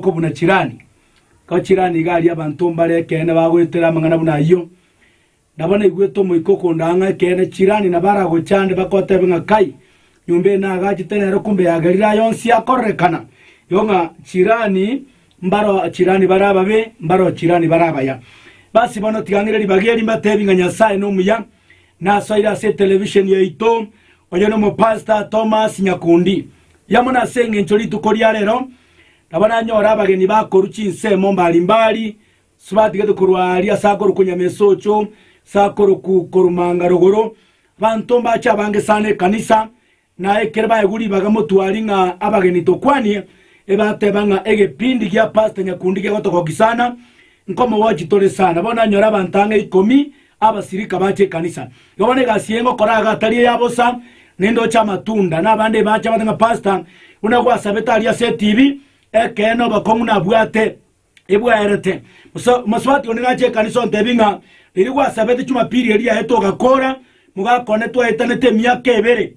Oko buna chirani, ko chirani iga aria abanto mbare ekeene bagoetera amang'ana buna ayio. Nabo naigwete omoika okondaa ng'a ekeene chirani nabo aragocha ande bakoteebe ng'a kai nyomba eye naagachete nero kumbe ya Galilaya onsi akorerekana. Igo ng'a chirani mbaro chirani bare ababe, mbaro chirani bare abaya. Basi bono tigang'ire ribaga eri mbateebie ng'a Nyasae nomuya. Nasoire ase etelevishen yaito onye nomopastor Thomas Nyakundi. Yamuna ase engencho rituko ria rero Nabo nanyore abageni bakorwa chinsemo mbari mbari, batigete korwa aaria ase akorokwa Nyamesocho, ase akorokwa Korumanga rogoro, abanto mbache abange sana ekanisa, na ekere baegwe ribaga motwari ng'a abageni tokwanie, ebateba ng'a egepindi gia Pastor Nyakundi gegotogoki sana, nkomogochi tore sana. Bono nanyore abanto ang'e ikomi, Abasirika bache ekanisa, igo bono egasi yaino okora iga tari eya bosa, naende oche amatunda, na abande ebache abate ng'a Pastor buna gwasabete aria ase etibi, ekeene obokong'u nabwate ebwaerete. Mosa- Mosubati onde nache ekanisa ontebie ng'a riria gwasabete Jumapili eria yaetwe ogakora, mogakonde twaetanete emiaka ebere,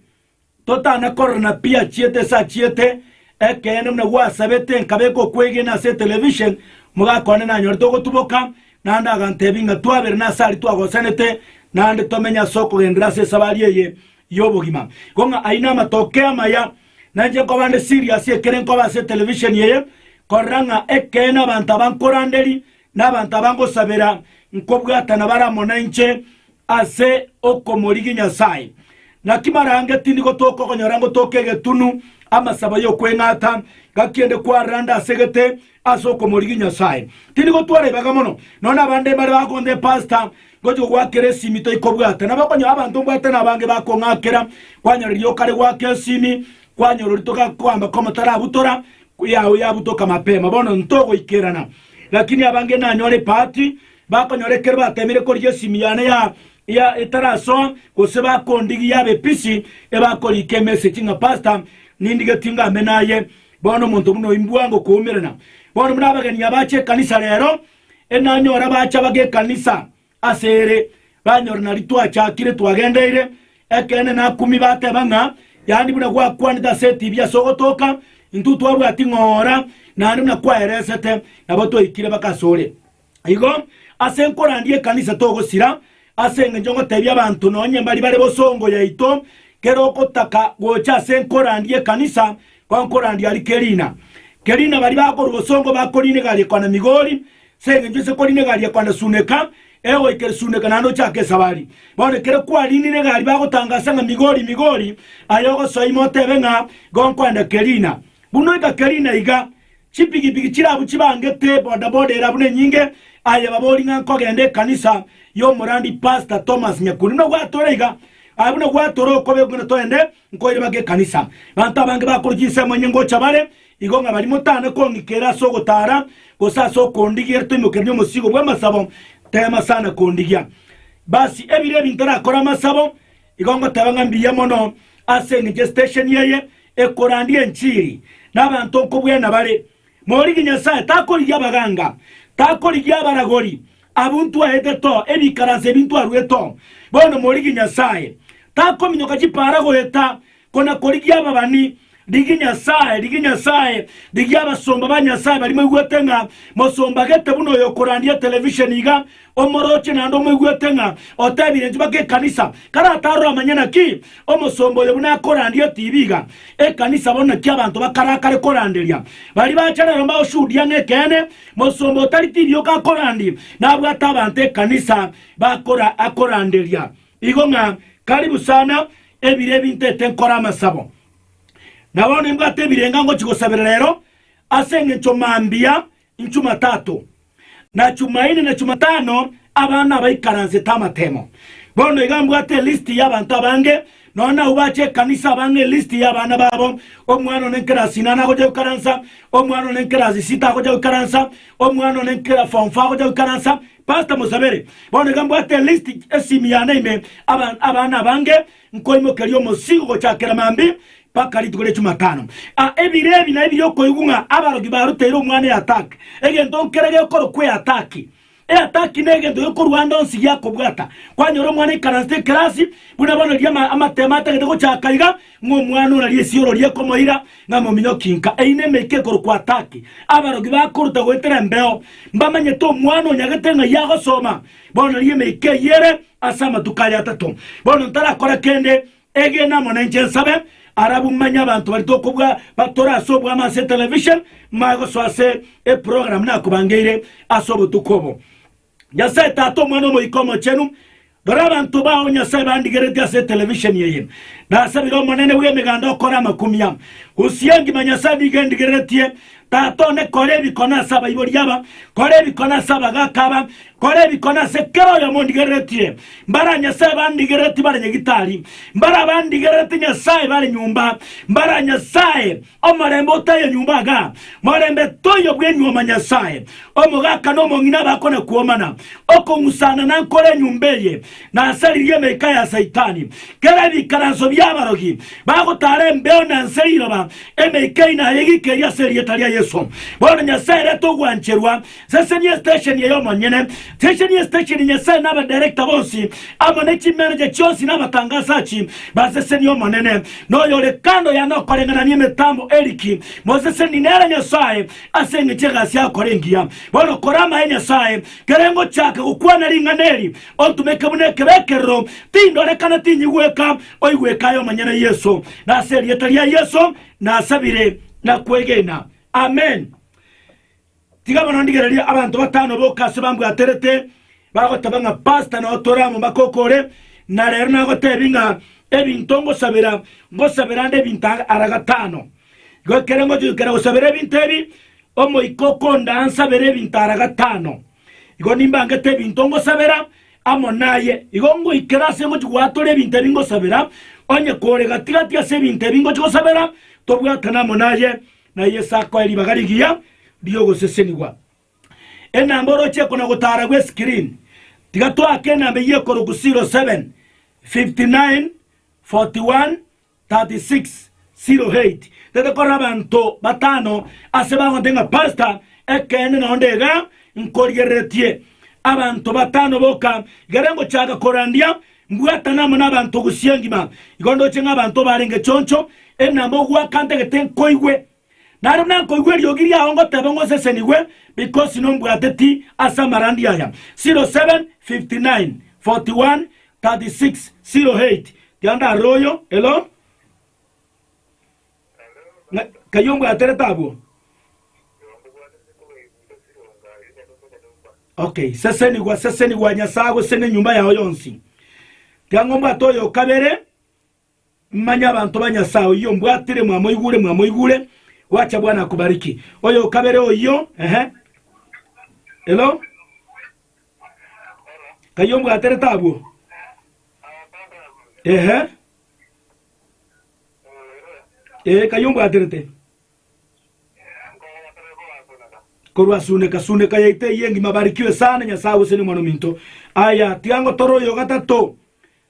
Totana korora napi yachiete ase achiete, ekeene buna gwasabete nkabeka okwegena ase etelevision, omogaka one nanyorete ogotuboka, naende agantebi ng'a twabere nase aria twagosanete naende tomenye ase okogenderera ase esabari eye y'obogima. Igo ng'a ayio namatokeo amaya nainche nkoba nde serious ekere nkoba ase etelevision eye korora ng'a ekeene abanto aba nkoranderia Nabanto aba ngosabera nkobwatana bare amo nainche ase okomorigia Nyasae. Naki marange tindi gotoka okonyora ngotoka egetunu amasabo y'okweng'ata, gaki ende kwarera nde ase egete ase okomorigia Nyasae. Tindi gotwara ibaga mono, nonya abande mbare bakonta epastor ngochi kogwakera esimi toikobwata. Nabo okonyora abanto mbwate nabange bakong'akera, kwanyorera riroka rigwaka esimi, kwanyorori togakoamba komotaraabutora, Kuyao yabutoka mapema, bono ntogoikerana, lakini abange nanyore ebahati, bakonyora ekero batemire korigia esimi yane ya ya etarasoa, gose bakondigia yaba episi, ebakoriika emessage ng'a pastor, nindigetie ngame naye, bono omonto buna oyio mbwango okoumerana. Bono buna abageni abache ekanisa rero, enanyora bacha baga ekanisa, Ase ere, banyora nari twachakire twagendeire. Ekeene nakumie bateba ng'a yaani buna gwakwanete ase etibi ase ogotoka, intwe twabwati ng'ora naende buna kwaeresete, nabo twaikire mpaka ase ore. Igo ase nkorandia ekanisa togosira, ase engencho ngotebia abanto nonye mbari bare bosongo yaito, kera ogotaka gocha ase nkorandia ekanisa kwa nkorandia aria kerina. Kerina bari bakorwa bosongo bakorina egariko na Migori, Ase engencho ase koriina egari ekwanda Suneka, egoika ere Suneka naende ochake esabari. Bono ekero kwariinire egari bagotangaasa ng'a Migori, Migori, aye ogosoa ime otebe ng'a igo nkwenda Kerina. Buna oika Kerina iga, chipigipigi chire abwo chibangete, bodaboda ere abwo nenyinge, aye babori ng'a nkogenda ekanisa y'omorambi Pastor Thomas Nyakuri. Buna gwatore iga, aye buna gwatore okobekwa ng'a toende, Nkoire bake ekanisa. Banto abange bakorochia ensemo enye ngocha bare igo ng'a baria motana kong'ikera ase ogotara gose ase okondigia ere toimokereni omosigo bw'amasabo teema sana kondigia. Basi ebire ebi ntarakore amasabo igo ngoteba ng'a mbuya mono ase engencho esitesheni eye ekorandia enchiri na abanto nkobwena bare Morigie Nyasae, takorigia abaganga, takorigia abaragori, abwo ntwaete to, ebikaransa ebi ntwarue to. Bono morigie Nyasae, takominyoka chipaara goeta, kona korigia ababani. Rigia Nyasae, rigia Nyasae, rigia abasomba ba Nyasae baria moigwete ng'a mosombagete buna oyo okorandia etelevisheni iga Omorooche naende omoigwete ng'a otebire intwe baka ekanisa, kare atarora amanye naki omosomba oyo buna akorandia etibi iga ekanisa bono naki abanto bakarakare koranderia. Baria bache rero mbagoshuhudia ng'a ekeene, mosomba otari tibi yoka akorandi nabwate abanto ekanisa bakora akoranderia igo ng'a karibu sana ebire ebi ntete nkore amasabo. Na bono imbwate ebirenga ngochi gosabera rero ase engencho mambia Chumatato, na Chumaine, na Chumatano, aba nabaikaransete amatemo. Bono iga mbwate elisti y'abanto abange, nonya nabu bache ekanisa abang'e elisti y'abana babo, omwana one nkerasi inana agocha goikaransa, omwana one nkerasi sita agocha goikaransa, omwana one nkera form four agocha goikaransa. Pastor mosabere, bono iga mbwate elisti, esimi yane ime, aba abana abange, Nkoimokeria omosigo gochakera maambia mpaka rituko ria Chumatano. A Ebiro ebi naye biria okoigwa ng'a abaroki baruteire omwana eataki, egento nkere gekorokwa eataki. Eataki negento gekorua ande onsi giakobwata. Kwanyora omwana aikaransete ekerasi, buna bono riria ama amatemo atagete gochaka iga, ng'a omwana ona risioro riekomoira ng'a mominyoki nka eine emeika ekorokwa ataki. Abaroki bakoruta goetera embeo, mbamanyete omwana onyagete ng'ai agosoma, bono riria emeika eyio ere, Ase amatuko aria atato bono ntarakora kende, egena amo nenche nsabe. Arabu manye abanto baria tokobua batore ase obwamo ase etelevision, mbae gosoa ase eprogram nakobangeire ase obotuko obo. Nyasae Tata, Omwana, Omoika Omochenu, rora abanto bao, Nyasae, bandigeretie ase etelevisioni eye. Nasabire Omonene bw'Emeganda okore amakumia. Usiangima, Nyasae, nigo endigereretie Tata one, kora ebikone ase abaibori aba, kora ebikone ase abagaaka aba, kora ebikone ase kera oyomo ondigereretie. Mbara Nyasae bandigerereti bare nyagitari, mbara bandigerereti Nyasae bare nyomba, mbara Nyasae omorembe otayo nyomba iga, morembe toyo bw'enyuoma Nyasae. Omogaaka na omong'ina bakona-kuomana, okong'usana nankore enyomba eye, nasaririe emeika ya Saitani, kera ebikaranso bi'abarogi bagotara embeo na ense riroba, emeika eye nayegikerie ase erieta ria Yeso. Bono Nyasae reta ogwancherwa, sesenia estesheni eye omonyene, sesenia estesheni Nyasae na abadirector bonsi amo ne chimanager chionsi na abatangasachi basesenie Omonene noyo ore kando yane okoreng'anania emetambo Eric moseseni nere Nyasae ase engecho egasi agokora engiya bono kora amaye Nyasae Kere ngochaka gokwana ring'ana eri, ontomeke buna ekebe ekerero, tindorekana, tinyigweka, oigweke aye omonyene, Yeso. Nase erieta ria Yeso nasabire na kwegena. Amen. Tiga bono ndigererie abanto batano boka ase bambwaterete bagoteba ng'a Pastor nao tore amo mpaka okore, na rero nagotebi ng'a ebinto ngosabera, ngosabera nde ebinto ara gatano. Goikere ngochikera gosabera ebinto ebi, omoika okondaa nsabere ebinto ara gatano. Igo nimbangete ebinto ngosabera amo naye. Igo ngoikera ase ngochi goatora ebinto ebi ngosabera, onye kore gati-gati ase ebinto ebi ngochi gosabera, tobwatane amo naye, na Yeso akoe ribaga rigiya ri'ogosesenigwa. Enamba orochie kona-gotara gw'eskirini, tiga toake enamba eyio ekorokwa 07, 59, 41, 36 0-8, Tete korora abanto batano ase bagonte ng'a Pastor, ekeene nonde iga nkorigereretie. Abanto batano boka igere ngochaka korandia, mbwatana amo nabanto gusii engima. Igo ndoche ng'a abanto barenge choncho, enamba ogwaka ntagete nkoigwe. Naro nakoigwa eriogi riao ngoteba ng'osesenigwe, because nombwateti ase amarandi aya. 07:59:41:36 08 Tiga ndarore oyo, elo, ng'a kaiyo ombwaterete abwo. Okay, sesenigwa, sesenigwa Nyasae agosene enyomba yao yonsi. Tiga ngombwate oyo okabere, Manye abanto ba Nyasae oyio mbwatire mwamoigure, mwamoigure, gwacha Bwana akubariki. Oyo o kabere oyio, ehe. Hello? Kayio mbwaterete abwo? Ehe. Ee, kayio mbwaterete. korwa suneka suneka yaito eye engima barikiwe sana nyasae gose ni omwana ominto aya tiga ngotore oyo gatato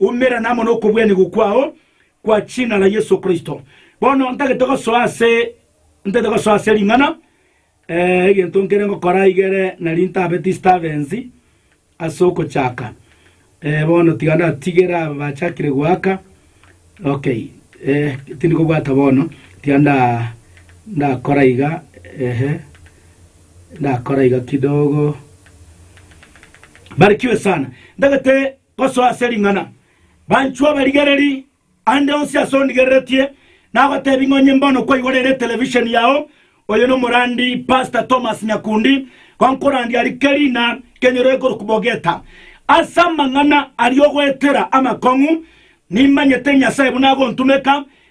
Umerana amo nokobwanigwa kwao kwa ching'a ra Yeso Kristo. Bono ntagete gosoa ase ntete gosoa ase ring'ana, ee, egento nkere ngokora igere nari ntabe distabensi ase ogochaka. Ee, bono tiga ndatigere aba bachakire goaka, okay, ee, tindi kobwata bono, tiga nda ndakora iga, ehe, ndakora iga kidogo. Barikiwe sana. Ntagete Gosoa ase ring'ana, banchwa abarigereri, ande onsi ase ondigereretie nagotebi ng'a onye mbono kwaigwa rere etelevisheni yao, oyo nomorandi Pastor Thomas Nyakundi, gonkorandia aria kerina kenyoro ekorokwa Bogeta. Ase amang'ana aria ogoetera amakong'u, nimanyete Nyasae buna agontumeka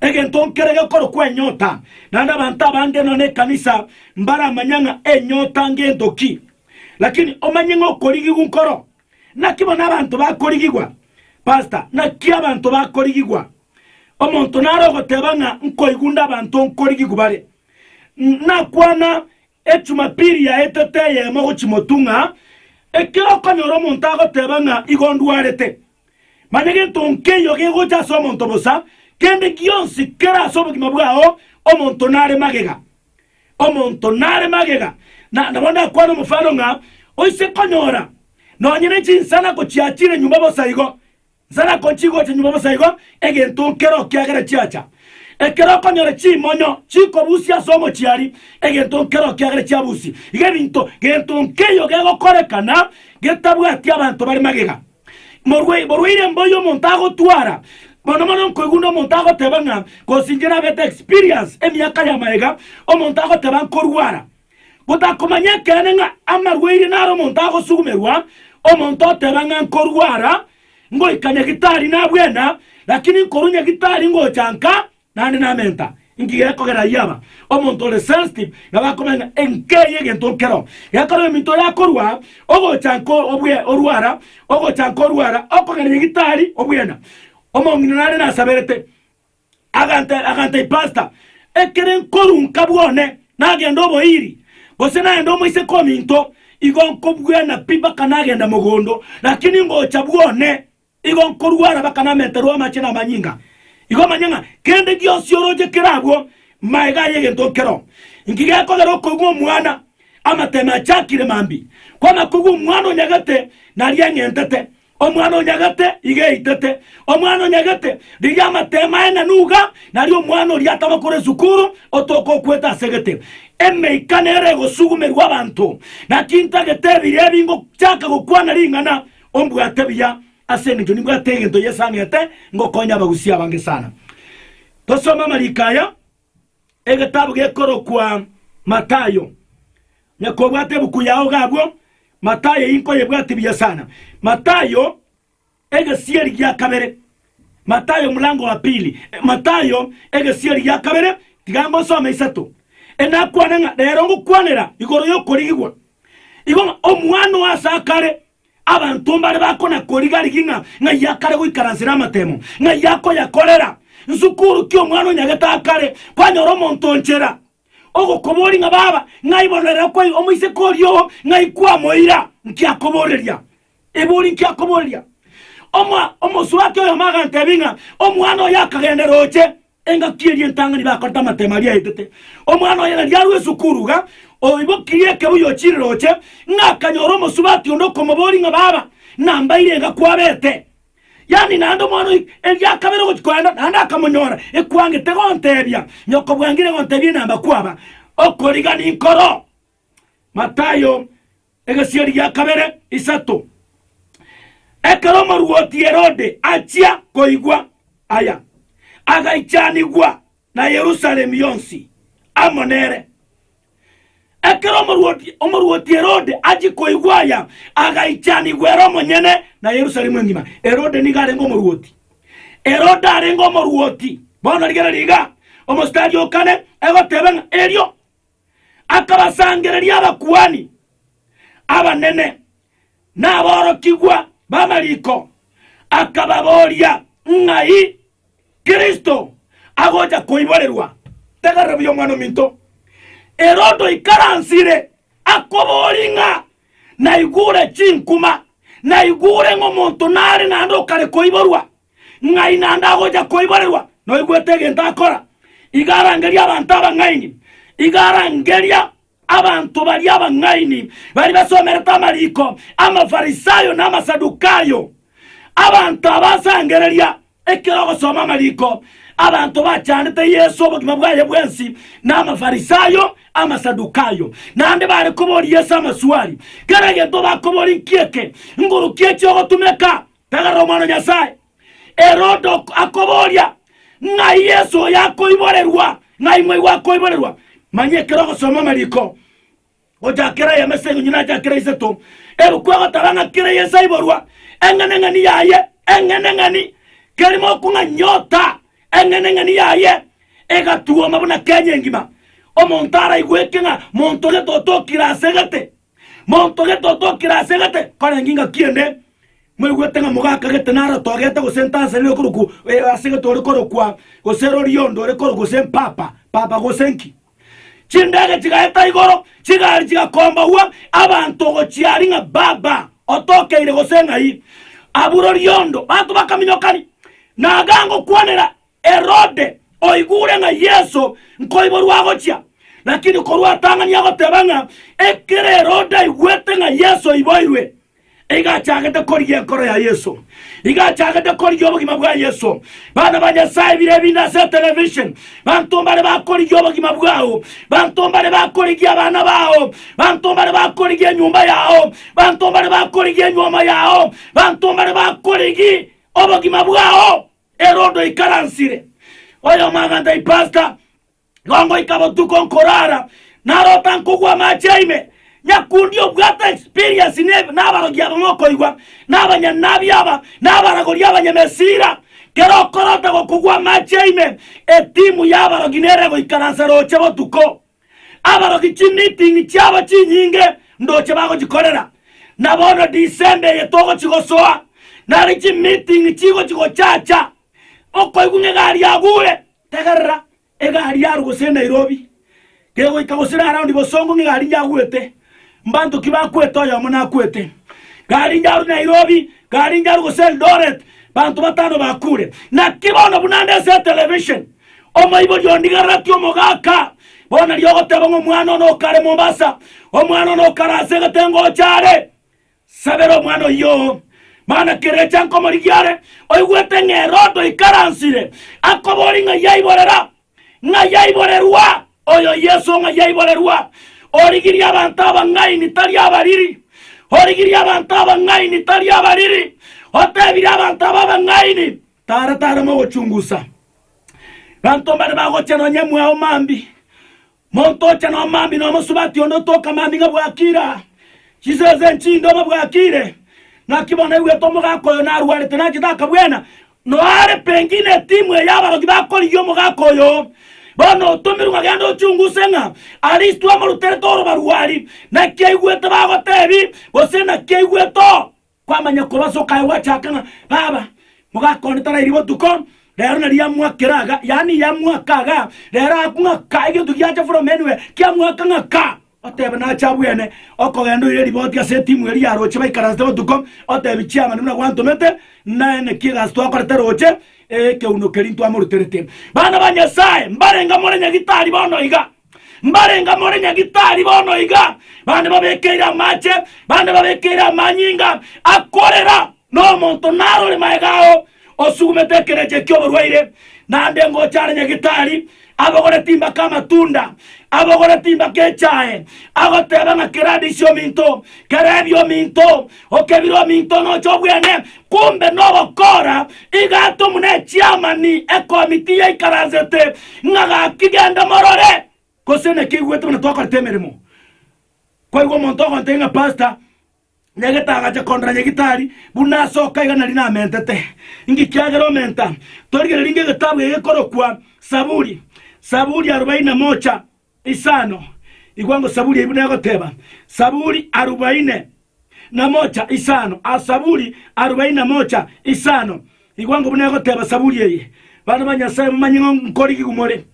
Egento nkere gekorokwa enyota, naende abanto abange nonya nekanisa mbaramanya ng'a enyota ngento ki. Lakini omanye ng'a okorigigwa nkoro. Naki bono abanto bakorigigwa? Pasta, naki abanto bakorigigwa? Omonto nare ogoteba ng'a nkoigwa nde abanto nkorigigwa bare. Nakwana Ejumapili yaetwe teyemo gochimotu ng'a ekero okonyora omonto agoteba ng'a igo ndwarete. Manya gento nkeiyo gegocha ase omonto bosa, kende gionsi kere ase obogima bwao omonto nare magega. Omonto nare magega. Na nabo ndakwane omofano ng'a oise konyora nonye ne chinsana gochiachire nyuma bosa igo. Inse nakochie gocha nyuma bosa igo, egento nkero kiagere chiacha. Ekero okonyora chimonyo chikobusia ase omochiari, egento nkero kiagere chiabusi. Iga ebinto gento nkeiyo gegokorekana getabwati abanto bare magega. Morwai, borwaire mboiyo omonto agotwara, mono mono nkoigwa na omonto agoteba ng'a, gose inche nabete experience emiaka ya mayega, omonto agoteba nkorwara, Gotakomanya ekeene ng'a amarwaire naro omonto agosugumerwa, omonto oteba ng'a nkorua ara ngoika nyagitari nabwena, lakini nkorua nyagitari ngocha nka naende namenta. Inki gekogera ayio aba? Omonto ore sensitive nabo akomanya ng'a enka eye egento nkero. Gekogera ominto oyo akorua ogocha nka obwe orua ara, ogocha nka orua ara, okogenda nyagitari obwena. Omong'ina nare nasaberete, Agantera, aganta ipasta, ekere nkorunka bwone nagenda oboiri, gose naende omoiseke ominto, igo nkobuana pi mpaka nagenda mogondo, lakini ngocha bwone, igo nkorwara mpaka namentera oamache na amanyinga. Igo manya ng'a kende gionsi oroche kere abwo, maega aye egento nkero. Inki gekogera okoigwa omwana amateme achakire mambi? Kw'amakoigwa omwana onyagete naria eng'entete, Omwana o nyagete iga eitete, omwana o nyagete riria amatema aye na nuga nario omwana oria atama kore esukuru otoke okwete ase egete. Emeika nero egosugumerwa abanto, naki ntagete ebiya ebi ngochaka gokwana ring'ana. Ombwate buya, ase engencho nimbwate egento yesang'ete ngokonya abagusia abange sana. Tosome amariko aya. Egetabu gekorokwa Matayo. Nyakobwata ebuku yao iga abwo, Matayo eyio nkoyebwatie buya sana. Matayo egesieri gia kabere, Matayo mlango wa pili, Matayo egesieri gia kabere, tiga ngosome isato. Enakwane ng'a rero ngokwanera igoro y'okorigigwa, igo ng'a Omwana o ase akare Abanto mbare bakona-koriga-rigia ng'a ng'ai akare goikaransera amatemo, ng'ai akoyakorera. Nsukuru ki omwana onyagete akare kwanyora omonto o nchera, ogokoboria ng'a baba, ng'ai bono ere okwaigwa omoiseke oria oo, ng'ai kwamoira? Nki akoboreria? Ebori nki akoboreria? Omo, omosubati oyomo agantebia ng'a, Omwana oyo akagenda roche, Engaki eria entang'ani bakorete amatemo aria aetete. Omwana oye na riarua esukuru iga, oibokirie ekebuya ochirire oche, ng'a akanyora omosubati onde okomoboria ng'a baba, nambaire iga kwabete. Yaani naende omwana oyo erio akabera ogochia kogenda naende akamonyora ekwangete gontebia, Nyoko bwangire gontebia enamba kwaba, okoriga ninkoro. Matayo egesieri gia kabere isato. Ekero omorwoti Herode achia koigwa aya, agaichanigwa na Yerusalemu yonsi amo nere. Ekero omorwoti, omorwoti Herode achia koigwa aya, agaichanigwa ere omonyene na Yerusalemu engima. Herode nigo arenge omorwoti. Herode arenge omorwoti. Bono rigereria iga, omositari o kane egoteba ng'a erio akabasangereria abakuani abanene na aborokigwa b'amariko, akababoria, Ng'ai Kristo agocha koiborerwa? Tegerera buya, Omwana-o-minto! Herodo oikaransire akoborie ng'a, Naigure chinkuma, naigure ng'omonto nare naende okare koiborwa. Ng'ai naende agocha koiborerwa noigwete egento akora? Iga arangeria abanto abang'aini, iga arangeria abanto baria abang'aini baria basomerete amariko Amafarisayo na Amasadukayo. Abanto aba ase angereria, ekero ogosoma amariko, abanto bachandete Yeso obogima bwaye bwensi na Amafarisayo, Amasadukayo, naende bare koboria Yeso amaswali. Kera egento bakoborie nki'eke, Nguru ki echia ogotumeka? Tagera Omwana o Nyasae. Herode akoboria, Ng'ai Yeso oyo akoiborerwa? Ng'ai mwaigwa akoiborerwa? Manya ekero ogosoma amariko, gochaka kera eyemo ase eng'encho nacha kera isato, ebuku egoteba ng'a kera Yeso aiborwa, eng'eneng'eni yaye, eng'eneng'eni, kerimo okwo ng'a nyota, eng'eneng'eni yaye egatuoma buna kenya engima. Omonto araigweke ng'a monto oria totokire asegete. Monto gete otokire ase gete, korenge ingaki ende, mwaigwete ng'a mogaka gete narotogete gose ntansa nere okorokwa eh, ase gete ore korokwa gose rori onde ore korokwa gose mpapa, papa gose nki. Chindege chigaeta igoro, chigari chigakombagwa, abanto gochia aria ng'a baba, otokeire gose ng'ai. Abwo rori onde, bato bakaminyokani, naga ngokwanera Herode oigure ng'a Yeso nkoiborwa agochia, lakini korwa atang'ani agoteba ng'a ekero Herode aigwete ng'a Yeso oiboirwe, iga achagete korigia enkoro ya Yeso, iga achagete korigia obogima bwa Yeso. Bana ba Nyasae bire ebinde ase etelevision, banto mbare bakorigia obogima bwao, banto mbare bakorigia abana bao, banto mbare bakorigia enyomba yao, banto mbare bakorigia enywoma yao, banto mbare bakorigi obogima bwao. Herode oikaransire, oyomaga Antipaska, Gongoika botuko nkorara, narota nkogwa amache a ime. Nyakundi obwate experience ne nabarogi aba mokoigwa, na abanyanabi aba, na abaragori abanyamesira. Kera okorota gokogwa amache a ime, etimu y'abarogi nere goikaransa roche botuko. Abaroki chimeeting chiabo chinyinge ndoche bagochikorera, na bono December eye togochigosoa, nare chimeeting chigochi gochacha okoigwa ng'a egari yagure. Tegerera, egari yarwe gose e Nairobi, kegoika gose ere around Bosongo ng'a egari yagwete, Mbanto ki bakwete oyomo nakwete karenge arwe Nairobi karenge arwe gose Eldoret banto batano bakure naki bono buna nde ase television omoibori ondigarereti omogaka bono riria ogoteba ng'a omwana one okare Mombasa omwana one okare ase egete ngocha are sabera omwana oyoo mana kerecha nkomorigia are oigwete ng'a Herode oikaransire akobori ng'a yaiborera Ng'a yaiborerwa, oyo Yeso ng'a yaiborerwa, origirie abanto abang'aini tari abariri, origirie abanto abang'aini tari abariri, otebire abanto aba abang'aini, Tara, tara mogochungusa, banto mbare bagochia nonya emwao mambi, Monto ocha nomambia nomosubati onde otoka amambia ng'a bwakire aa, chisese enchinde obe bwakire. Naki bono naigwete omogaka oyo narwarete nachete akabwena, noare pengine etimu eye abarogi bakorigia omogaka oyo. Bono otomirwe ng'a genda ochunguse ng'a Aristo amoruterete orobarwari, naki aigwete bagotebi, gose naki aigwete oo. Kwamanya kobasoka aye gwachaaka ng'a, Baba, mogaka one tarairie botuko, rero nari yamwakera aga, yaani yamwaka aga, rero agakwa ng'aka, egento giacha buna omenwe, kiamwaka ng'aka. Oteba nache abwene, okogenda oire riboti ase etimu eria ya roche baikaransete botuko, otebi chiamani buna gwantomete, naye naki egasi twakorete roche, ee, ekeuno keria ntwamoruterete. Bana ba Nyasae, mbarenge more nyagitari bono iga. Mbarenga more nyagitari bono iga, bande babekeire amache, bande babekeire amanyinga akorera, na omonto narore magega ao osugumete ekerecha ki'oborwaire, naende ngocha are nyagitari abogore timbaka amatunda, abogore timbaka echae, agoteba ng'a kera adisi ominto, kera ebia ominto, Okebire ominto onoche obwene, kombe nogokora igato muna echiamani ekomiti yaikaransete ng'a gaki genda morore, gose nekeigwete buna twakorete emeremo. Kwaigwa omonto ogontebia ng'a pastor nyagete agacha kondora nyagitari buna asoka iga nari namentete. Inki kiagera omenta? Torigereria ng'egetabu ege gekorokwa Saburi, Saburi arubaini na mocha, Isano, igwa ngosaburia ebi negoteba, Saburi arubaine na mocha isano, a Saburi arubaine na mocha isano, igwa ngobu negoteba saburi eye, Bana ba Nyasaye, momanye ng'a nkorigigwa more.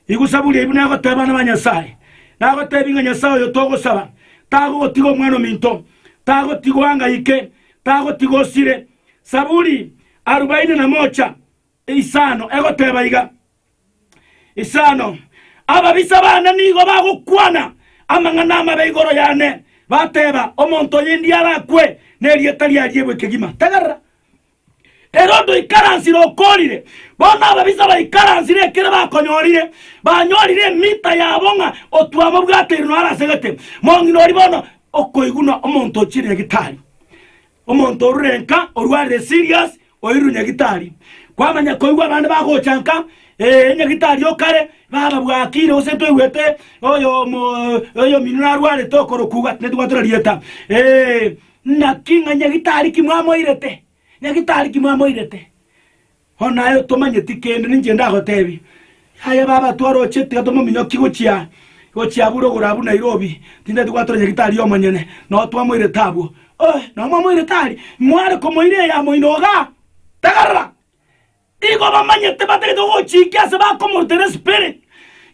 Igwa saburi ebi negoteba, Bana ba Nyasaye, nagotebie ng'a Nyasaye oyo togosaba tagogotiga omwana ominto, tagotiga oangaike, tagotiga osire. Saburi arubaine na mocha. Isano egoteba iga, Isano, ababisa bane nigo bagokwana amang'ana amabe igoro yane, bateba, Omonto oyo endi arakwe, na erieta ria riebwe kegima. Tegerera! Herode oikaransire okorire, bono ababisa baikaransire ekero bakonyorire, banyorire emita yabo ng'a otwamobwateire naro asegete. Mong'ina oria bono okoiguna omonto ochire egitari, Omonto orure nka orwarire serious oirure nyagitari. Kwamanya koigwa abande bagocha nka, Ee, nyagitari o kare, baba bwakire gose toigwete oyomo oyominwe narwarete okorokugwa, tinde twatura rieta. Ee, naki ng'a nyagitari ki mwamoirete, nyagitari ki mwamoirete. O naye otomanyeti kende ninche ndagoteebie. Yaya baba twaroche tiga tomominyoki gochia gochia abure ogoro abwo Nairobi tintati gwatora nyagitari omonyene noo twamoirete abwo. Ohh noo mwamoirete aria? Mware komoira eyo amo inwe igaa? Tegerera! Igo bamanyete batagete gogochikia ase bakomorutera espirit.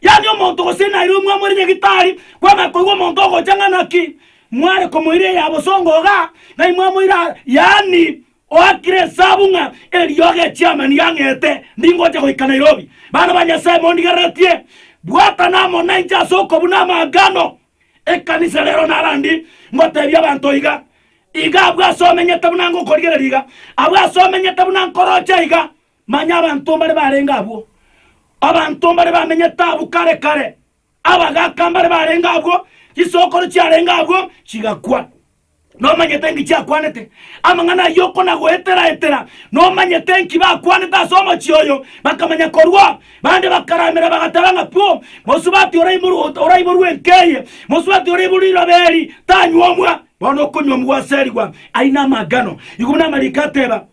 Yaani omonto gose Nairobi mwamoire nyagitari kwamanya koigwa omonto ogocha ng'a naki mware komoira eyo abo songo igaa? Ng'ai mwamoira aria? Yaani Oakire esabu ng'a eriogi echiama ndiang'ete, ndingocha goika Nairobi. Bana ba Nyasae mondigereretie, bwatana amo nainche ase okobuna amangano ekanisa rero narandi ngoteebie abanto iga, iga abwo ase omenyete buna ngokorigereria iga, abwo ase omenyete buna nkoroche iga. Manya abanto mbare barenge abwo, abanto mbare bamenyete abwo kare kare. Abagaaka mbare barenge agwo, chisokoro chiarenge agwo chigakwa. Nomanyete enki chiakwanete? Amang'ana ayio okonagoetera-etera, nomanyete enki bakwanete ase omochie oyo? Bakamanya korwa, bande bakaramera, bagateba ng'a, Pu! Mosubati oraiborwe ot- oraiborwe enka eye, mosubati oraiborwe riroba eri, tanyuomwa! Bono okonyuomwa gwaserigwa, aina amagano, igwa buna amariko ateba.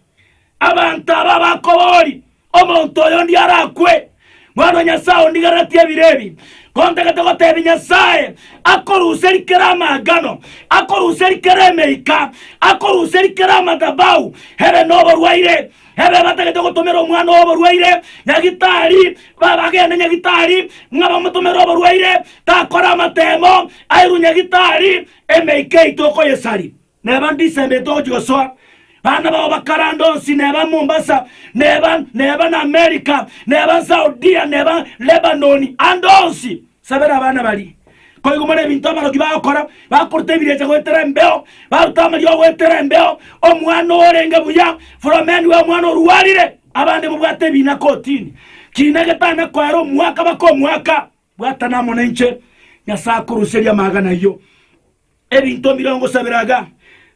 Abanto aba bakobori, Omonto oyo onde arakwe, Mwana o Nyasae ondigereretie ebire ebi, kontagete gotebia Nyasae, akoruserie kera amaagano, akoruserie kera emeika, akoruserie kera amadhabahu, ebe noborwaire, ebe batagete gotomera omwana oo oborwaire nyagitari, ba bagende nyagitari, ng'a bamotomere oborwaire, takore amateemo, airwe nyagitari, emeika yaito okoyesaria. Neba ndisendete gochia gosoa bana bao bakarande onsi, neba Mombasa, neba neba na America, neba Saudia, neba Lebanon, ande onsi sabera abana baria. Koigomana ebinto abaroki bagokora, bakoruta ebirecha goetera embeo, baruta amariogo goetera embeo, omwana orenge buya from anywhere, omwana orwarire, abande mobwate ebina kotini, kiina getana koera omwaka baka omwaka. Bwatana amo nainche, Nyasae akoruseria amagana ayio. Ebinto mirongo sabera iga,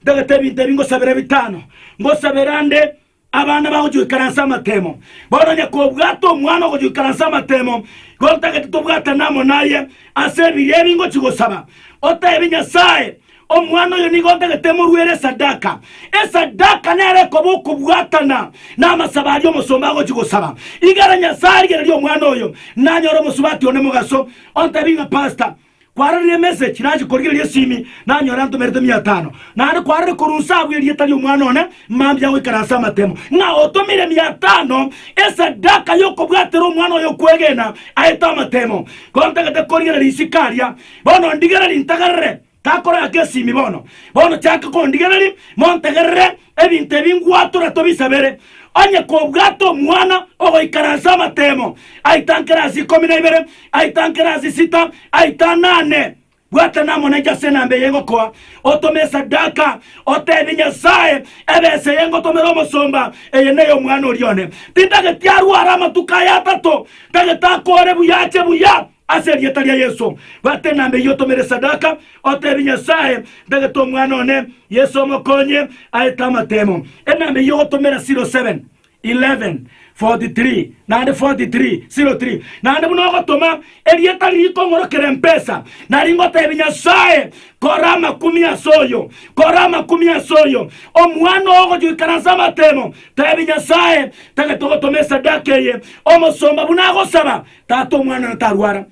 ntagete ebinto ebi ngosabera ebitano, ngosabera ande abana bagochia goikara nse amatemo. Bono onye kobwate omwana ogochia goikara nse amatemo, igo ntagete tobwatane amo naye ase ebiria ebi ngochia gosaba, oteebie Nyasae, Omwana oyo nigo ntagete moruere esadaka. Esadaka nero ekoba okobwatana namasabo aria omosomba agochia gosaba. Igere Nyasae arigererie omwana oyo, nanyore omosubati one mogaso. Ontebi ng'a Pastor, kwarorire emessage, nachi korigereria esimi, nanyora antomerete mia tano. Naende kwarorire korwa inse abwo erieta ri'omwana one, mambia goikara ase amatemo. Ng'a otomire mia tano esadaka y'okobwatera omwana oyo okwegena aete amatemo. Ko ntagete korigereria isiko aria, bono ndigereria ntagerere. Gakorora gesimi bono, bono chanka kondigereria, montegerere ebinto ebi ngwatora tobisabere, onye kobwate omwana ogoikara ase amatemo, aitankere ase ikomi na ibere, aitankere ase sita, aitane ane. Bwata namonenche ase enamba eye ngokoa, otome esadaka, oteebie Nyasae, Ebesa eye ngotomera omosomba, eye ney'omwana oria one. Tintageti arware amatuko aya atato, ntagete akore buya ache buya. Ase erieta ria Yeso, bwate enamba eyio otomere esadaka, oteebie Nyasae, Ntagete omwana one, Yeso omokonye aete amatemo. Enamba eyio ogotomera 07, 11, 43, naende 43, 03. Naende buna ogotoma erieta ririkong'orokera empesa, nari ngoteebie Nyasae, Kora amakumi ase oyo, kora amakumi ase oyo. Omwana oo ogochia goikaransa amatemo, teebia Nyasae, Ntagete ogotoma esadaka eye, omosomba buna agosaba, Tata omwana natarwara.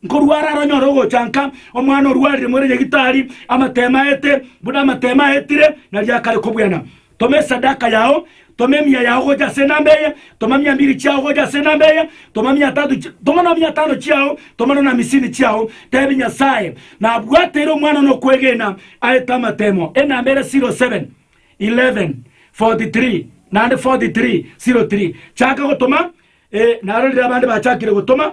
Nkorwara aranyore ogocha nka omwana orwarire more nyagitari, amatemo aete, buna amatemo aetire, nari akare kobwena. Toma esadaka yao, toma emia yao gocha ase enamba eye, toma mia mbiri chiao gocha ase enamba eye, toma mia tatu chi, toma na mia tano chiao, toma na na amisini chiao, tebi Nyasae, nabwateire omwana one okwegena, aete amatemo. Enamba ere 07 11 43 naende 43 03. Chaka gotoma Ee, narorire abande bachakire gotoma.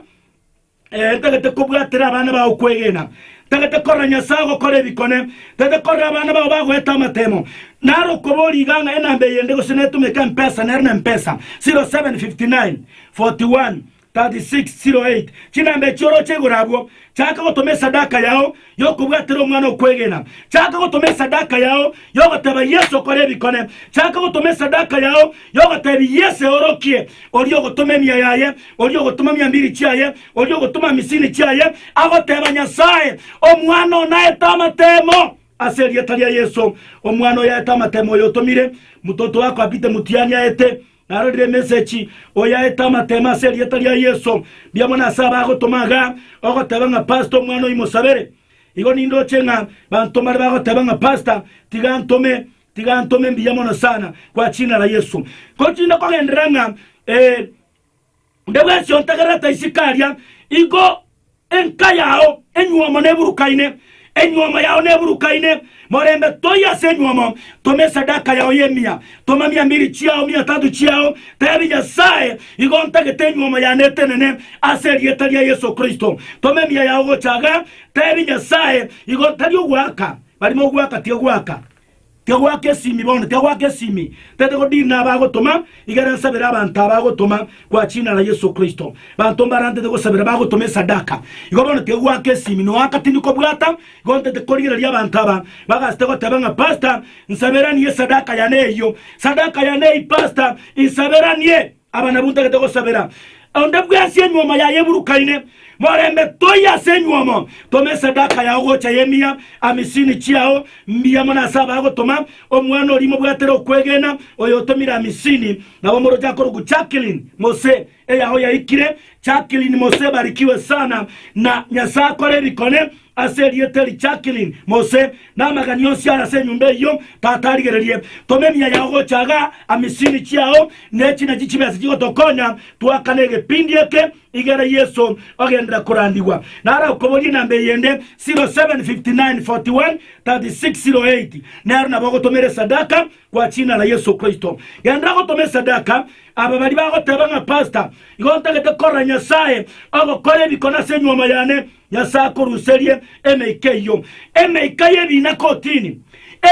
Ee, ntagete kobwatera abana bao kwegena. Ntagete korora Nyasae ogokora ebikone. Ntagete korora abana bao bagoeta amatemo. Naro okoba origa ng'a enamba eyende gose netumeka empesa nere nempesa. 07 59 41 36 08 Chinamba echio oroche igoro abwo, chaka gotoma esadaka yao, y'okobwatera omwana okwegena, chaka gotoma esadaka yao y'ogoteba Yeso okore ebikone, chaka gotoma esadaka yao y'ogotebi Yeso eorokie, oria ogotoma emia yaye, oria ogotoma miambiri chiaye, oria ogotoma amisini chiaye, agoteba Nyasaye, Omwana oo naete amatemo ase erieta ria Yeso, omwana oyo aete amatemo oyo otomire, mototo wako Apite Mutiani aete. Narorire emesechi, oyaete amateema ase erieta ria Yeso. Mbuya mono ase abagotoma iga, ogoteba ng'a Pastor omwana oyio mosabere. Igo nindoche ng'a banto mbare bagoteba ng'a Pastor, tiga antome, tiga antome, mbuya mono sana, kwa chinara Yeso. Gotinda kogenderera ng'a ee. Onde bwensi ontegerete isiko eria, igo enka yao enyuomo neburukaine, enyuomo yao neburukaine, morembe toiyo ase enyuomo, toma esadaka yao y'emiya, toma mia mbiri chiao, mia tatu chiao, tebi, Nyasae, igo ntagete enyuomo yane etenene ase erieta ria Yeso Kristo. Toma emiya yao gocha iga, tebi, Nyasae, igo ntari ogoaka, barimo ogoaka tigoaka. Kegwa kesimi bono, kegwa kesimi. Tete godini nabo agotoma, igere nsabere abanto aba agotoma kwa china ra Yesu Kristo. Banto mbarantete gosabera bagotoma esadaka. Igo bono kegwa kesimi, noaka tindi kobwata, igo ntete korigereria abanto aba bagasete goteba ng'a Pastor, nsaberanie esadaka yane eyio. Sadaka yane eye Pastor, insaberanie. Aba nabwo ntagete gosabera. Onde bwensi enyuomo yaye eburukaine, morembe toiyo ase enyuomo, toma esadaka yao gocha y'emiya amisini chiao mbuya mono ase abagotoma, omwana oria mobwatere okwegena, oyotomire amisini, nabo moroche akorokwa Jacqueline Mose, eyao yaikire, Jacqueline Mose barikiwe sana na Nyasae akore ebikone, Ase erieta eri Jacqueline Mose na amagani onsi are ase enyomba eyio Tata arigererie. Toma emiya yao gocha iga, amisini chiao, ne echi nachio chibese chigotokonya twakane egepindi eke igere Yeso ogenderera korandigwa. Nare okoborie enamba eyende, 0759413608, nero nabo ogotomera esadaka kwa chinara Yeso Kristo. Genderera gotoma esadaka, aba baria bagoteba ng'a Pastor, igo ntagete korora Nyasae ogokora ebikone ase enyuomo yane, Nyasae akoruserie emeika eyio, emeika y'ebiina kotini,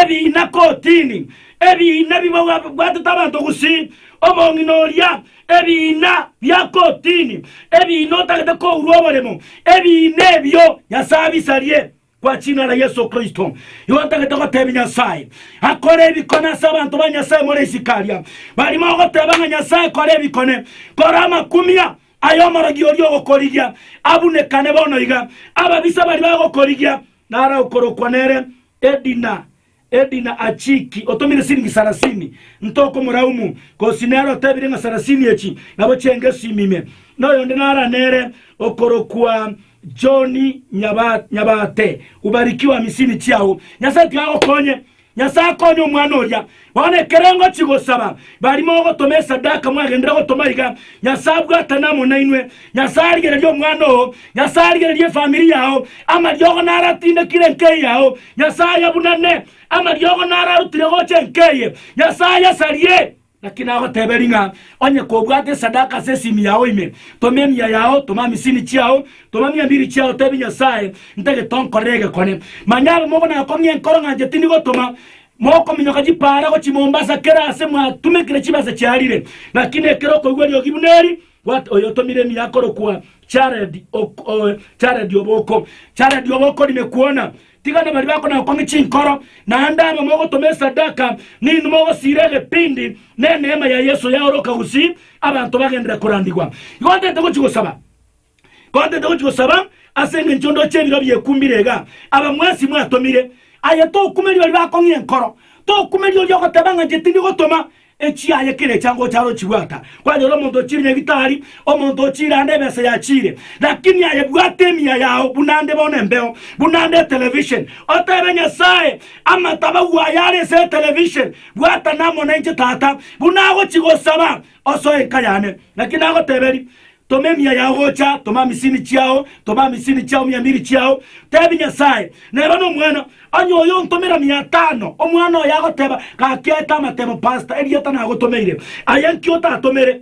ebiina kotini, ebiina bibwatete abanto gusii, omong'ina oria, ebiina bia kotini, ebiina otagete kourwa oboremo, ebiina ebio Nyasae abisarie kwa china ra Yeso Kristo. Igo ntagete gotebia Nyasae akore ebikone ase abanto ba Nyasae more isiko aria, bari mogoteba ng'a Nyasae kora ebikone, kora amakumia, Aye omorogi oria ogokorigia, abunekane bono iga, ababisa baria bagokorigia, nara okorokwa nere Edina, Edina Achiki, otomire siringi sarasini, ntoko moraumu, gose nere otebire ng'a sarasini echi nabo chiengesu ime ime, na oyonde nara nere okorokwa John Nyaba, Nyabate, ubarikiwe amisini chiao, Nyasae tiga agokonye, Nyasae akonye omwana oria. Bono ekero ngochia gosaba, bari mogotoma esadaka mwagenderera gotoma iga, Nyasae abwatane amo nainwe. Nyasae arigererie omwana oo. Nyasae arigererie efamiri yao. Amariogo naratindekire enkei yao. Nyasae abunane amariogo nararutire gocha enkei. Nyasae asarie. Naki nagoteberia ng'a onye kobwate esadaka ase esimi yao ime, toma emiya yao, toma amisini chiao, toma mia mbiri chiao, tebia Nyasae, Ntagete onkorere egekone. Manya abamongo nakong'ia enkoro ng'a inche tindi gotoma, mokominyoka chipaara gochia Mombasa kera aase mwatumekire chibesa chiarire, naki nekero okoigwa eriogi buna eri, gwat oyo otomire emiya akorokwa Jared ok o Jared Oboko. Jared Oboko ri ne kwona, Tiga nabari bakonakong'ia chinkoro, naende aba mogotoma esadaka, ninwe mogosiira egepindi neneema ya Yeso yaoroka gusii abanto bagenderere korandigwa. Igo ntete gochia gosaba, igo ntete gochia gosaba ase engencho ndoche ebiro biekumbire iga, aba mwensi mwatomire. Aye tokumeri bari bakong'ia enkoro, tokumeri oria ogoteba ng'a inche tindi gotoma, Echiaye kera echango ochare ochibwata, kwanyora omonto ochiire nyagitari, omonto ochiire ande ebesa yachiire, lakini aye bwata emiya yao buna nde bono embeo, buna nde etelevision, otebe Nyasae, Amatabau aya are ase etelevision, bwatana amo nainche tata, buna agochi gosaba, osoe enka yane. Naki nagoteberie, Toma emiya yao gocha, toma misini chiao, toma misini chiao miamiri chiao, tebi Nyasae, Neba nomwana, onye oyo ontomera mia tano, omwana oye agoteba, Gaki aete amatemo Pastor, erieta nagotomeire, aye nki otatomere?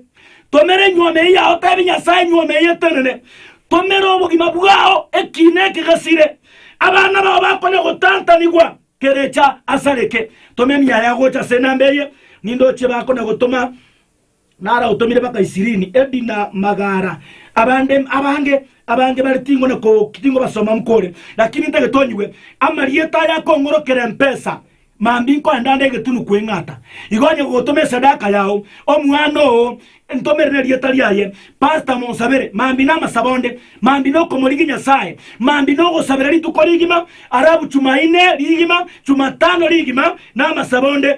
Tomera enyuoma eye yao, tebi Nyasae, Enyuoma eye etenene, tomera obogima bwao, ekiina eke gesire, abana bao bakonya gotantanigwa, kerecha asareke, toma emiya yao gocha ase enamba eye, nindochie bakonya gotoma. Naragotomire mpaka Isirini, Edi na Magara, abande abange, abange bare ting'one ko, ting'obasoma mkore, lakini ntagete onyigwe amarieta aya akong'orokera empesa, mambia nkoenda ande egetunu kweng'ata. Igo onye gogotoma esadaka yao, omwana oo ntomere nerieta riaye, pastor monsabere, mambia namasabo onde, mambia nokomorigia Nyasaye, mambia nogosabera rituko rigima, arabu Chumaine rigima, Chumatano rigima, namasabo onde,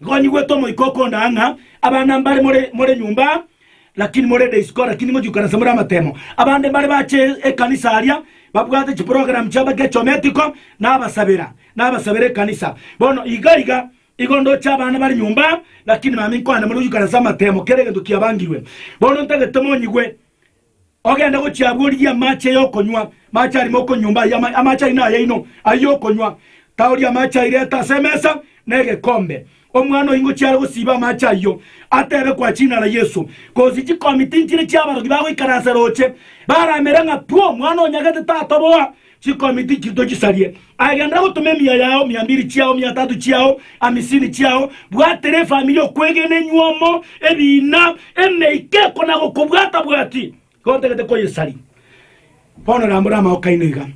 Nkonyigwete omoika okondaa ng'a abana mbare more nyomba aa, lakini morende isiko, lakini ngochia goikara inse more amatemo. Abande mbare bache ekanisa aria, babwate chiprogram chiabo gechometiko, nabasabera, nabasabera ekanisa. Bono iga iga, igo ndoche abana bare nyomba aa, lakini mambia nkoanamore gochia goikara inse amatemo, kera egento kiabangirwe. Bono ntagete monyigwe, Ogende gochia abwo origie amache y'okonywa, amache ari moko nyomba aye, ama- amache aino ayaino, ayio y'okonywa. Taoria amache ayio, reta ase emesa negekombe. Omwana oyio ngochiare gosiba amache ayio, atebe kwa chinara Yesu, gose chikomi tinchire chi'abarogi bagoikaransa roche, baramere ng'a, Pwo, mwana onyagete tatoboa, Chikomi tichiri tochisarie, aye genda gotoma emiya yao, mia mbiri chiao, mia tatu chiao, amisini chiao, bwatera efamiri okwegena enyuomo, ebiina, emeika eko na gokobwata bwati, igo otagete koyesaria. Bono rambora amaoka aino iga.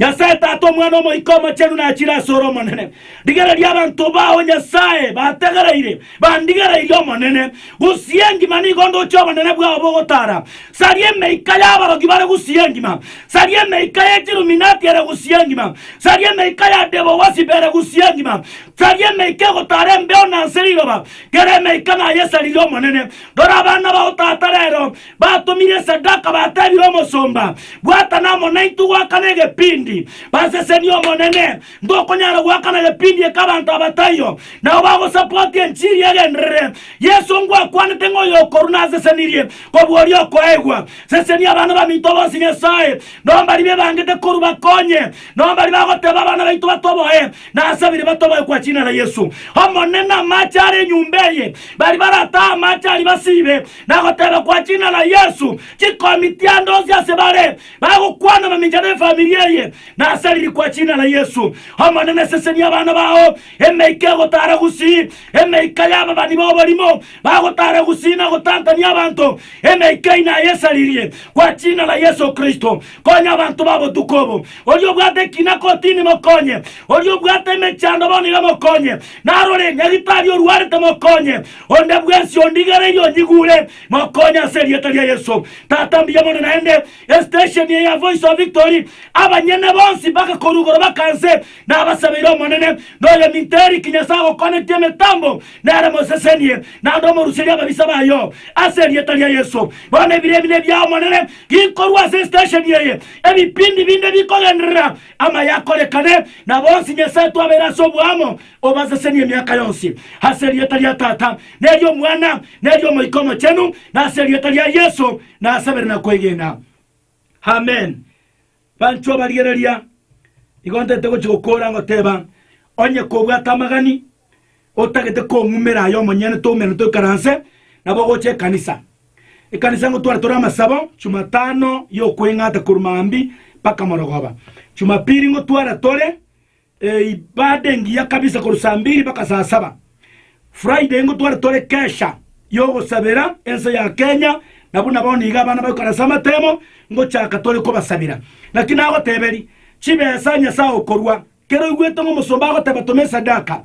Nyasae Tata, Omwana, Omoika Omochenu nachire ase ore Omonene. Rigereria abanto bao, Nyasae, bategereire, Bandigereirie Omonene, gusii engima nigo ndoche obonene bwao bogotara. Saria emeika y'abarogi bare gusii engima, saria emeika ye chiruminati ere gusii engima, saria emeika ya Debo-wasip ere gusii engima, saria emeika egotara embeo na nse riroba, kera emeika nayesaririe Omonene. Rora abana bao tata rero batomire esadaka, batebire omosomba, Bwatana amo naintwe goakana egepindi, basesenie Omonene, Ngokonyara goakana gepindi eke abanto aba taiyo nao bagosapoti enchiri y'egenderere. Yeso ngwakwanete ng'a oyokorwa nasesenirie kobua oria okoegwa. Sesenia abana baminto bonsi Nyasae, nao mbaria bebangete korwa bakonye, nao mbaria bagoteba abana baito batoboe, nasabire batoboe kwa china la Yesu. Omonene, amache are enyumba eye, baria baratahe amache aria basibe, nagoteba kwa china la Yesu, chikomi tiande onsi ase bare, Bagokwana mamincha nefamiri eye, na ase ririkwa china la Yesu. Omonene, sesenia abana bao emeika egotara gusii, emeika y'ababani b'oborimo bagotara gusii na gotantania abanto, emeika eye nayesaririe kwa china la Yesu Kristo. Konya abanto ba botuko obo. Oria obwate ekina kotini mokonye, oria obwate emechando bono iga mokonye, narore nyagitari orwarete mokonye, onde bwensi ondigereirie onyigure. Mokonye ase erieta ria Yesu. Tata mbuya mono naende estation eye ya voice of victory abanyene bonsi mpaka korwa igoro baka nse nabasabeire omonene noyo minto Eric nyasae agokonetie emetambo nere mosesenie naende omoruserie ababisa bayo ase erieta ria Yesu bono ebiro ebi nebiao omonene gikorwa ase estation eye ebipindi binde bikogenderera amaye akorekane na bonsi nyasae twabeire ase oboamo Obasesenie emiaka yonsi ase erieta ria Tata, na eri'Omwana, na eri'Omoika Omochenu, na ase erieta ria Yeso nasabire na kwegena. Amen. Banchwa ba rigereria, nigo ntagete gochia gokoora ngoteba, onye kobwate amagani, otagete kong'umera aye omonyene toumera toikaranse nabo gocha ekanisa. Ekanisa ngotware tore amasabo Jumatano y'okweng'ata korwa maambia mpaka morogoba. Jumapili ngotwara tore Eibada engiya kabisa korwa saa mbiri mpaka saa saba. Friday nigo tware tore kesha y'ogosabera ense ya Kenya na buna bono iga abana bagoikara ase amatemo ngochaka tore kobasabera. Naki nagoteberie, chibesa Nyasae okorua. Kera oigwete ng'a omosomba agoteba toma esadaka,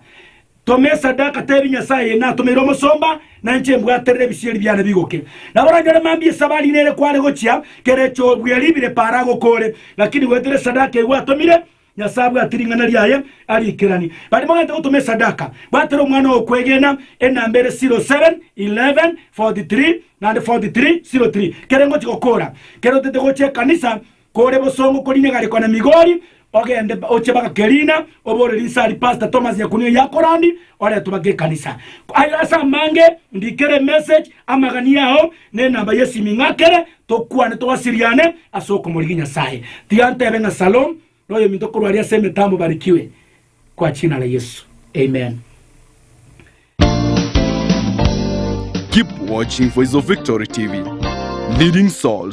toma esadaka tebi Nyasae eye natomeire omosomba na inche mbwaterere ebisieri biane bigoke. Nabo oranyore mambia esabari nere kware gochia kera echobu eria ribire para agokore, lakini goetera esadaka eye gwaatomire Nyasae abwate ring'ana riaye ariikerani. Barimo gento gotoma esadaka, bwatera omwana ogokwegena, enamba ere 07, 11, 43, naende 43, 03. Kere ngochia gokora, kere otete gochia ekanisa, kore bosongo koriina egari kona Migori, ogende ochie mpaka Kerina, obore rinse aria Pastor Thomas Nyakunyu yakorandi, oretwe mpaka ekanisa. Aye ase amange, ndikere emessage, Amagania ao nenamba y'esimi ng'akere tokwane togasiriane ase okomorigia Nyasae. Tiga ntebe ng'a Salom na oyominto korwa aria ase emetambo barikiwe kwa china ra Yesu. Amen. Keep watching for His Victory TV, leading souls.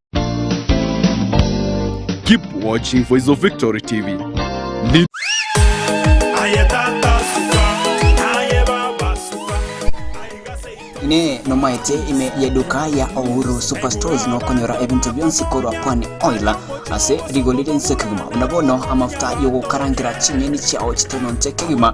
Keep watching Voice of Victory TV. Ni- Aye tata suka, aye baba suka, aiga seito. ne nomaete ime y'eduka ya Uhuru Superstores nokonyora ebinto bionsi korwa Pwani Oil ase rigori rinse kegima buna bono amafuta y'ogokarangera ching'eni chiao chitononte kegima